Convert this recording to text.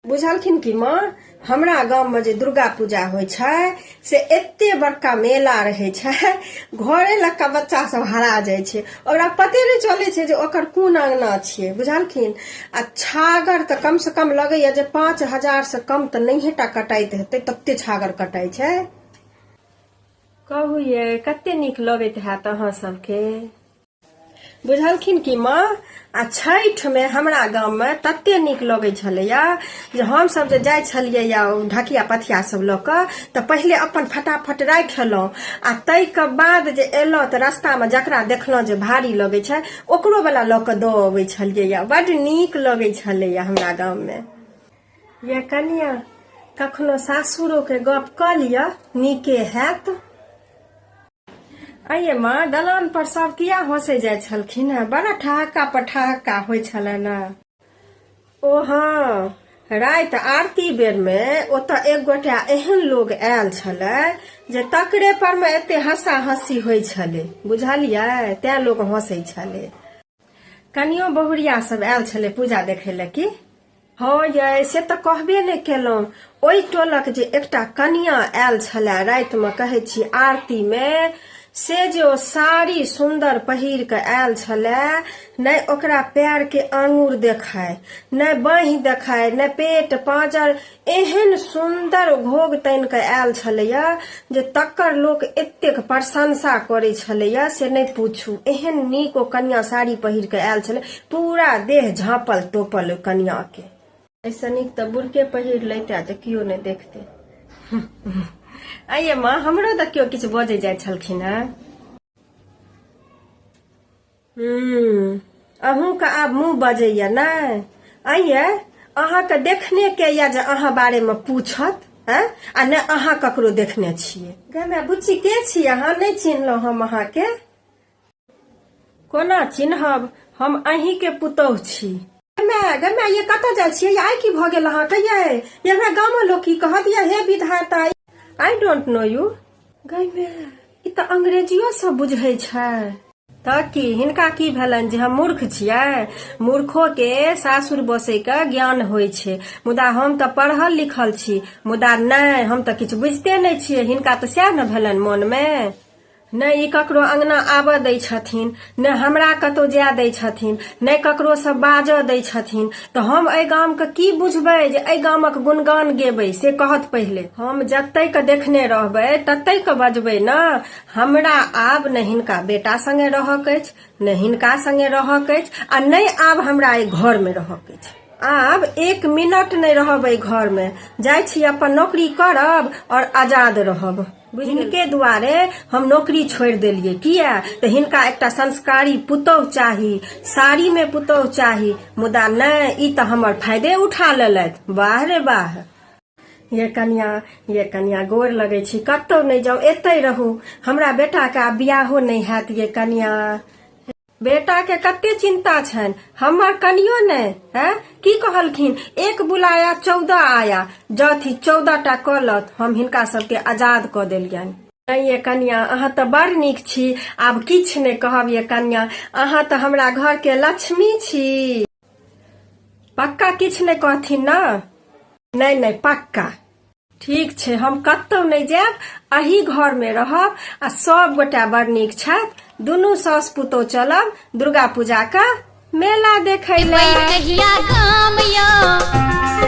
बुझलखिन कि माँ हमरा गाम में जे दुर्गा पूजा होइ छै से एते बड़का मेला रहै छै घरे लग का बच्चा सब हरा जाइ छै ओकरा पते नहि चलै छै जे ओकर कोन अंगना छियै बुझलखिन आ छागर तऽ कम से कम लगैया जे पाँच हजार से कम तऽ नहिये टा कटाइत हेतै तते छागर कटाइ छै कहू ये कते नीक लगैत हैत अहाँ सबके बुझलखिन कि माँ आ छठिमे हमरा गाममे तते नीक लगै छलैया जे हमसभ जे जाइ छलियै या ढकिया पथिया सब लऽ कऽ तऽ पहिले अपन फटाफट राखि एलहुँ आ ताहिके बाद जे एलहुँ तऽ रस्तामे जकरा देखलहुँ जे भारी लगै छै ओकरो वला लऽ कऽ दऽ अबै छलियै या बड नीक लगै छलैया हमरा गाममे या कनिया कखनो सासुरोके गप कऽ लिअ नीके हैत आइए माँ दलान पर सब किया हंसे जाय छलखिन है बड़ा ठहक्का पर ठहक्का हो छलन ओ हाँ रात आरती बेर में ओत एक गोटा एहन लोग आयल छल जे तकरे पर में एते हंसा हंसी हो छले बुझलिए तै लोग हंसे छले कनियो बहुरिया सब आयल छलै पूजा देखै लए की हँ यै से तऽ कहबे नहि केलहुँ ओहि टोलक जे एकटा कनिया आयल छलए रातिमे कहै छी आरतीमे से जे ओ साड़ी सुन्दर पहिर कऽ आयल छलए नहि ओकरा पैरके आङूर देखाय नहि बाँहि देखाय नहि पेट पाँजर एहन सुन्दर घोग तानि कऽ आयल छलैए जे तकर लोक एतेक प्रशंसा करै छलैए से नहि पूछू एहन नीक ओ कनिया साड़ी पहिर कऽ आयल छलै पूरा देह झाँपल तोपल ओहि कनियाके ऐसे नीक तऽ बुरके पहिर लैते जे केओ नहि देखते आइए माँ हमरो तऽ केओ किछु बजै जाइ छलखिन हेँ अहूँके आब मुँह बजैया नहि अइए अहाँके देखने के यऽ जे अहाँ बारेमे पूछत हैं आ ने अहाँ ककरो देखने छियै गमे बुच्ची के छी अहाँ नहि चिन्हलहुँ हम अहाँके कोना चिन्हब हम अहींके पुतोह छी गमे गमे ये कतऽ जाइ छियै आइ की भऽ गेल अहाँके ये ये हमरा गाममे लोक की कहत ये हे विधाता आई डोंट नो यू गमे ई तऽ अंग्रेजियो सब बुझै छै तऽ की हिनका की भेलनि जे हम मूर्ख छियै मूर्खो के सासुर बसै के ज्ञान होइ छै मुदा हम तऽ पढ़ल लिखल छी मुदा नहि हम तऽ किछु बुझिते नहि छियै हिनका तऽ सएह ने भेलनि मोन मे नहि ई ककरो अंगना आबऽ दै छथिन ने हमरा कतौ जाय दै छथिन ने ककरो से बाजऽ दै छथिन तऽ हम एहि गाम के की बुझबै जे एहि गामक गुणगान गेबै से कहत पहिले हम जतै के देखने रहबै ततै के बजबै ने हमरा आब ने हिनका बेटा संगे रहक अछि ने हिनका संगे रहक अछि आ नहि आब हमरा एहि घर मे रहक अछि आब एक मिनट नहि रहब एहि घर मे जाइ छी अपन नौकरी करब और आजाद रहब हिनके दुआरे हम नौकरी छोड़ि देलियै किया तऽ हिनका एकटा संस्कारी पुतोह चाही साड़ी में पुतोह चाही मुदा नहि ई तऽ हमर फायदे उठा लेलथि वाह रे वाह ये कनिया ये कनिया गोर लगे छी कतौ नहि जाउ एतै रहू हमरा बेटाके आब बियाहो नहि हैत ये कनिया बेटाके कते चिन्ता छनि हमर कनियो नहि है की कहलखिन एक बुलाया चौदह आया जथी चौदह टा कलत हम हिनका सबके आजाद कऽ देलियनि नहीं ये कन्या अहाँ तऽ बड़ नीक छी आब किछु नहि कहब ये कन्या अहाँ तऽ हमरा घर के लक्ष्मी छी पक्का किछु नहि कहथिन ने नहि नहि पक्का ठीक छै हम कतहु नहि जायब अही घरमे रहब आ सब गोटा बड़ नीक छथि दुनू सास पुतोह चलब दुर्गा पूजाके मेला देखै लए कहिया गाम यौ